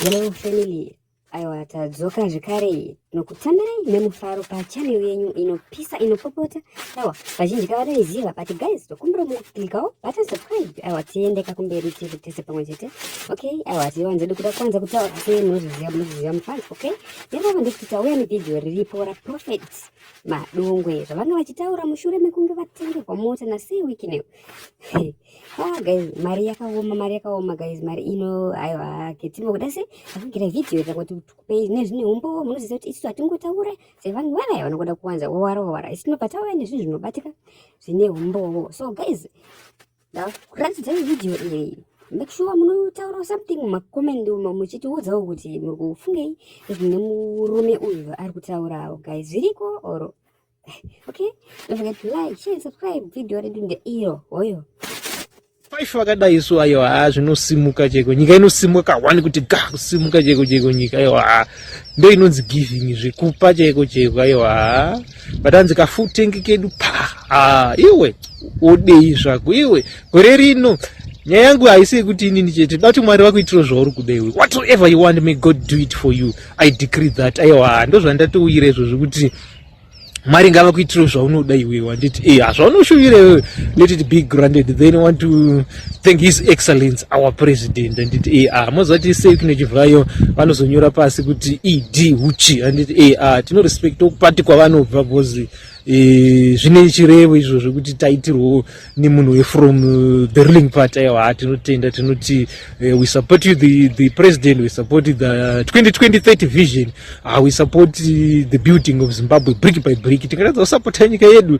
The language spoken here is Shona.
Hello family, aiwa tadzoka zvekare nokutambirai nemufaro pachanel yenyu inopisa inopopota aiwa vazhinji kavatoiziva but guys tokumbira muklikawo button subscribe aiwa tiendeka kumberi tiri tese pamwe chete okay aiwa tiwanze dikuda kwanza kutaura senozviziva munozviziva mufans okay Ipapo ndikuti tauya nevideo riripo raProphet Madungwe zvavanga vachitaura mushure mekunge vatengerwa mota nasei weekend. ah guys, mari yakaoma, mari yakaoma guys, mari ino aiwa ketimbo kuda se akugira video kuti tikupei nezvine umbowo munoziva kuti isu hatingotaure sevanhu vaya vanogoda kuwanza wowara wowara. Isu tinobva tauya nezvinhu zvinobatika zvine umbowo. So guys, ndakuratidzai vhidhiyo iyi make sure munotaurawo something mumakomendi umo muchitiudzawo kuti muri kufungei zvine murume uyu ari kutaurawo guys zviriko or okay don't forget to like share subscribe vhidhiyo redu ndeiro hoyo paife vakadai isu ayo haa zvinosimuka cheko nyika inosimuka kahwani kuti ga kusimuka cheko cheko nyika ayo haa ndo inonzi giving zvekupa cheko cheko ayo haa but hanzi kafutenge kedu pa ah, iwe odei zvako iwe gore rino nyaya yangu haisi yekuti inini chete dati mwari vakuitiro zvauri kuda iwe whatever you want may god do it for you i decree that aiwa ndozvandatouyira izvo zvekuti mwari ngava kuitiro zvaunoda iwe wanditi e eh, hazvaunoshuvira iwe let it be granted then want to thank his excellence our president handiti ar mozati sei kune chivhayo vanozonyora pasi kuti ed huchi handiti ar tinorespekta kupati kwavanobva bcozi e, zvine chirevo izvo zvekuti taitirwo nemunhu wefrom uh, the ruling party aiwa ha tinotenda tinoti uh, we support you the, the president we support the 202030 uh, vision uh, we support the building of zimbabwe brick by brick tingatadza kusapota nyika yedu